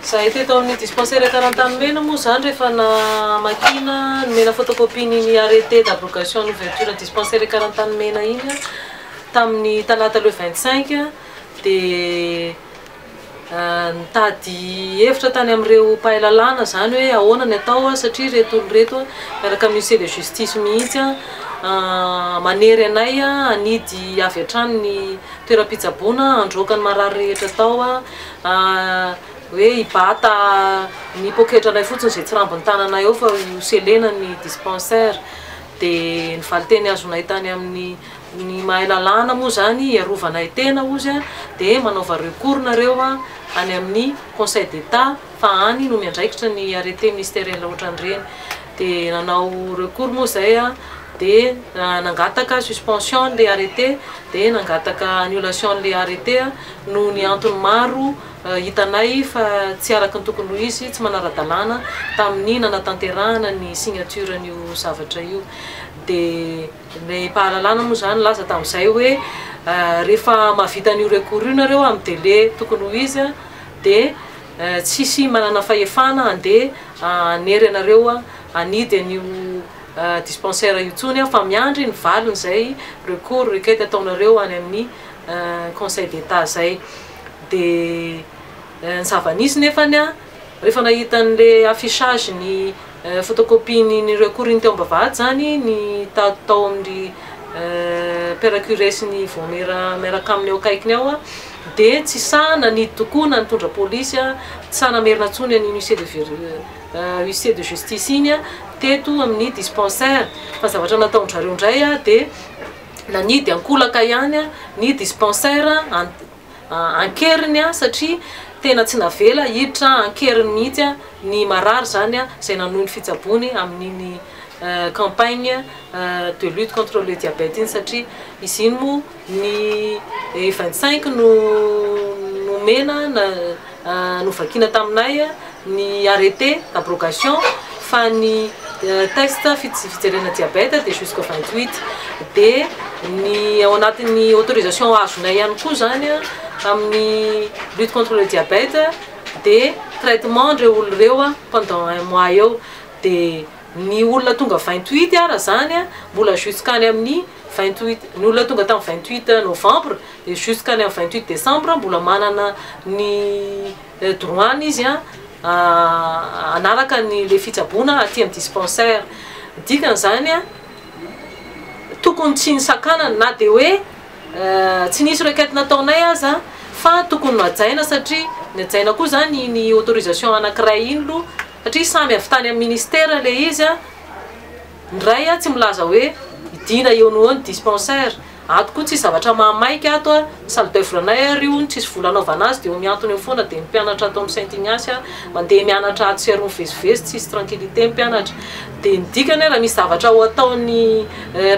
Zahay teto amin'ny dispensaire Tarantanomena moa izany rehefa namakiana, nomena photocopie ny ny arrêté d'abrogation ny ouverture dispensaire Karantanomena iny tamin'ny talata le 25 dia ah, nitady hevitra tany amin'ireo mpahay lalàna izany hoe ahoana ny atao ah, satria ireto olona ireto ah, miaraka amin'ny huissier de justice mihitsy ah, ah, manery anay ah, hanidy avy hatrany ny toeram-pitsaboana handroaka ny marary rehetra tao a hoe hibata ny poketralay fotsiny izay tsy rambon'ny tananay ao fa ho selena ny dispensaire dia ny valinteny azonay tany amin'ny ny mahay lalàna moa izany hiarovanay tena hozy a dia manaova recours nareo a any amin'ny conseil d'état fa any no miandraikitra ny arrêté ministériel ohatran'ireny Dia nanao recours moa izay dia nangataka suspension an'ilay arrêté dia nangataka annulation an'ilay arrêté noho ny antony maro hitanay fa tsy araka ny tokony ho izy, tsy manara-dalàna tamin'ny nanatanterahana ny signature an'io zavatra io. Dia ny mpahalalana moa izany nilaza tamin'izay hoe rehefa mahavita an'io recours io nareo amin'ny délai tokony ho izy dia. Tsisy manana fahefana handeha hanery anareo hanidy an'io dispensaire io intsony fa miandry ny valin'izay recours, requête, ataonareo any amin'ny conseil d'Etat izay. Dia ny zava-nisy nefany, rehefa nahita an'ilay affichage-ny. Fotokopiany ny recours-ny teo am-bavahady izany ny tady tao amin'ny Père curé sy ny vaomiera miaraka aminy eo akaikiny ao dia tsy sahy nanidy tokoa na nitondra polisy, tsy sahy namerina intsony an'iny huissier de huissier de justice iny teto amin'ny dispensaire fa zavatra nataon-dry zareo indray dia nanidy ankolaka ihany ny dispensaire an-keriny satria tena tsy navela hiditra an-keriny mihitsy ny marary izany izay nanohy ny fitsaboany amin'iny campagne de lutte contre le diabète iny satria izy iny moa ny vingt cinq no nomena Novakina taminay ny arrêté abrogation fa ny test fijerena diabète dia jusqu'au vingt huit dia ny ao anatin'ny autorisation azonay ihany koa izany amin'ny lutte contre le diabète dia traitement an'ireo olona ireo pendant un mois eo dia ny olona tonga vingt huit ara izany mbola jusqu'any amin'ny vingt huit ny olona tonga tamin'ny vingt huit novembre dia jusqu'à ny amin'ny vingt huit décembre mbola manana ny droit-ny izy hanaraka ny ilay fitsaboana aty amin'ny dispensaire. Dikan'izany tokony tsy nisakanana na dia hoe tsy nisy requête nataonay aza fa tokony hajaina satria ny hajaina koa izany iny autorisation anankiray iny aloha satria samy avy tany amin'ny ministère ilay izy. Ny ray a tsy milaza hoe idina eo noho eo ny dispensaire, ato koa tsisy zavatra mahamaika ato a, ny salle d'oeuvre anay ary io no tsisy vola anaovana azy dia eo mihantona eo foana dia ny mpianatra ato amin'ny Saint Ignace a mandeha mianatra atsy sy aroa mivezivezy tsisy tranquillité ny mpianatra dia ny dikany hoe raha misy zavatra ho ataon'ny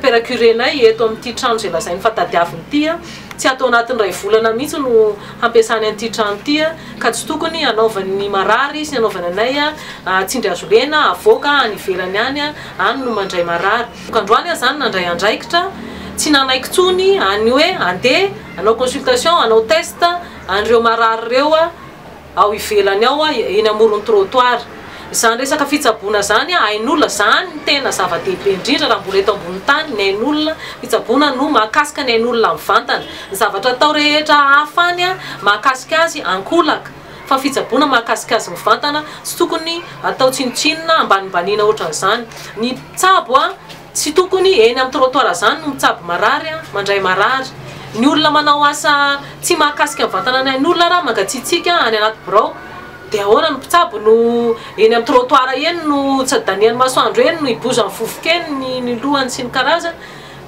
père curé-nay eto amin'ity trano izay lazainy fa tadiaviny ity a Tsy ato anatin'ny iray volana mihitsy no hampiasany an'ity trano ity ka tsy tokony hanaovany ny marary sy hanaovany anay tsindry hazo lena havoaka any ivelany any, any no mandray marary. Androany aho izany nandray andraikitra, tsy nanaiky intsony an'ny hoe andeha hanao consultation, hanao test an'ireo marary ireo aho. ao ivelany ao eny amoron'ny trottoir. Izany resaka fitsaboana izany ain'olona izany no tena zava-dehibe indrindra raha mbola eto ambony tany ny ain'olona, fitsaboana no mahakasika ny ain'olona mivantana. Ny zavatra atao rehetra hafa any mahakasika azy ankolaka fa fitsaboana mahakasika azy mivantana tsy tokony atao tsinontsinona ambanimbaniana ohatran'izany ny mpitsabo a! Tsy tokony eny amin'ny trottoir izany no mitsabo marary, mandray marary, ny olona manao asa tsy mahakasika ny vatanany ain'olona raha mangatsiatsiaka any anaty birao dia ahoana ny mpitsabo no eny amin'ny trottoir eny no tsy adanian'ny masoandro eny no hibozan'ny vovoka eny ny ny lohany sy ny karazany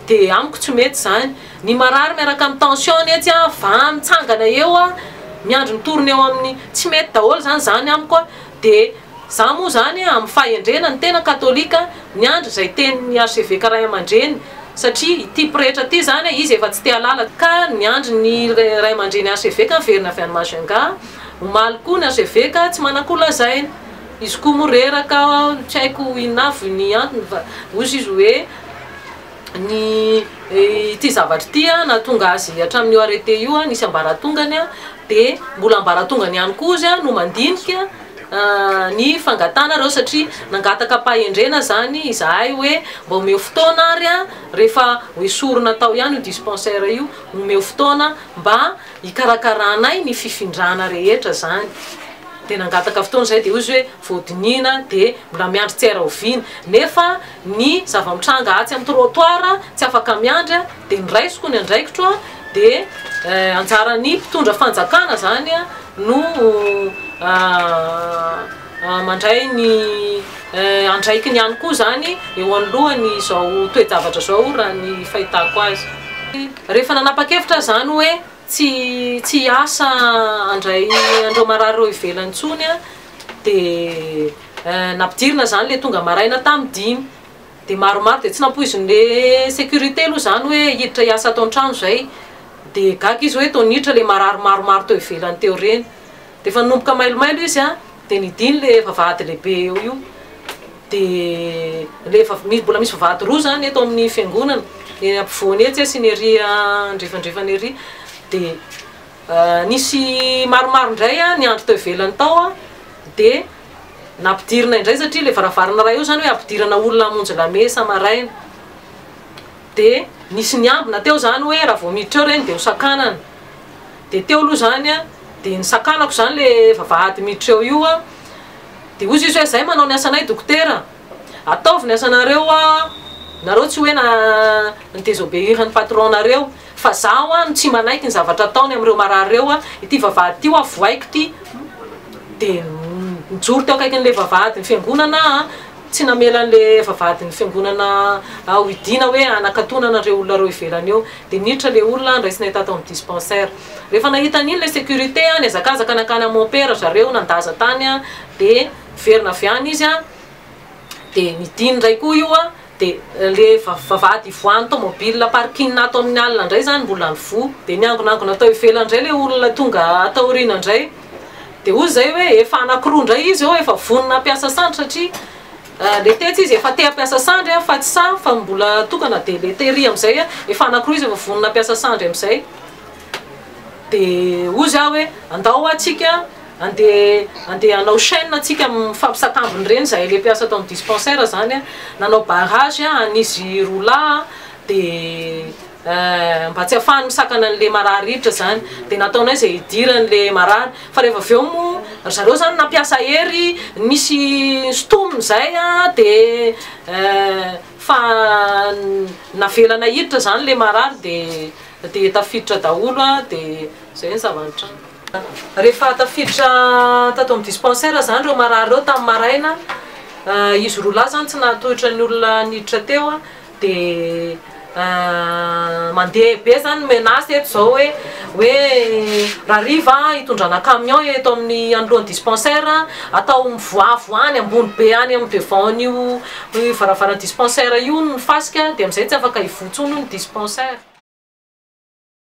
dia amiko tsy mety izany ny marary miaraka amin'ny tension ny etsy an va mitsangana eo an miandry ny torony eo amin'ny tsy mety daholo izany izany amiko an Dia za moa zany amin'ny fahendrena ny tena katolika miandry izay tenin'ny arseveka ray aman-dreny satria ity pretra ity zany izy efa tsy te halala ka miandry ny ray aman-dreny arseveka miverina avy any Majunga omaly koa ny arseveka tsy manana koa lazaina izy koa moa reraka tsy haiko inona avy ny antony fa ozy izy hoe ny ity zavatra ity nahatonga azy hatramin'io arrêté io nisy ambaratongany dia mbola ambaratongany ihany koa izy no mandinika ny fangatahana ireo satria nangataka am-pahendrena izany izahay hoe mba omeo fotoana ary rehefa hoesorina atao ihany io dispensaire io omeo fotoana mba hikarakaranay ny fifindrana rehetra izany dia nangataka fotoana izay dia hoy izy hoe voadiniana dia mbola miandry tsy hay rahoviana nefa ny zava-mitranga atsy amin'ny trottoir tsy afaka miandry dia ny raisiko ny andraikitro dia anjaran'ny mpitondra fanjakana zany no mandray ny andraikiny ihany koa zany eo anoloany izao toe-javatra izao raha ny fahitako azy. Rehefa nanapa-kevitra aho izany hoe tsy tsy hiasa handray an'ireo marary ireo ivelany intsony aho dia. Nampidirina izany ilay tonga maraina tamin'ny dimy. Dia maromaro dia tsy nampoizin'ilay sécurité aloha izany hoe hiditra hiasa ato an-trano izay. Dia gaga izy hoe toa niditra ilay marary maromaro teo ivelany teo ireny. Dia efa nanomboka mailomailo izy an, dia nidina ilay vavahady lehibe eo io. Dia ilay vav- mi- mbola misy vavahady roa izany eto amin'ny fiangonana, ny ampovoany etsy sy ny ery andrefandrefany ery. Dia Nisy maromaro indray niandry tao ivelany tao dia nampidirina indray satria ilay varavarana iray eo izany hoe ampidirana olona hamonjy lamesa maraina. Dia nisy niambina teo izany hoe raha vao miditra ao ireny dia hosakanana. Dia teo aloha izany dia nisakanako izany ilay vavahady miditra eo io dia hoy izy hoe izay manao ny asanay dokotera. Ataovy ny asanareo a! Nareo tsy hoe na ni désobéir ny patron nareo fa zaho a no tsy manaiky ny zavatra ataony amireo marary reo a! Ity vavahady ty hoa vohaiko ty de nijoro teo akaikin le vavahady ny fiangonana a! Tsy namela anle vavahady ny fiangonana a hohidiana hoe hanakatona anareo olona reo ivelany eo! De niditra le olona ndraisinay tato aminy dispensaire! Refa nahita aniny le sécurité a niazakazaka nankany aminy mompera zareo nandaza tany a! De Niverina avy any izy an, dia nidina indray koa io an, dia ilay vavahady ivoahan'ny tomobil parking ato amin'ny alina indray izany mbola nivoha, dia niangonangona tao ivelany indray ilay olona tonga ato aoriana indray, dia hoy izay hoe efa anakiroa indray izy eo efa vonona hampiasa sandry satria ilay tetsy izy efa te hampiasa sandry an, fa tsy sahy fa mbola tokana, dia ilay tery amin'izay an, efa anakiroa izy efa vonona hampiasa sandry amin'izay, dia hoy izy aho hoe andao ho'a tsika. Andeha andeha hanao chaine antsika mifampisatambina ireny izahay ilay mpiasa ato amin'ny dispensaire izany a, nanao barrage a, an' izy roa lahy a, dia mba tsy hahafahany misakana an'ilay marary rivotr izany, dia nataonay izay hidirany ilay marary, fa rehefa avy eo moa ry zareo izany nampiasa hery nisy nisintomina izay a, dia fa navelana hiditra izany ilay marary dia dia tafiditra daholo a, dia izay ny zava-nitranga. Rehefa tafiditra tato amin'ny dispensaire izany ireo marary ireo tamin'ny maraina, izy roa lahy izany tsy nahatohitra ny olona niditra teo dia mandeha be izany ny menace eto izao hoe hoe rariva hitondrana camion eto amin'ny anoloan'ny dispensaire, atao mivoavo any ambony be any amin'ny devant an'io varavaran'ny dispensaire io ny fasika dia amin'izay tsy afaka hivoha intsony hono ny dispensaire.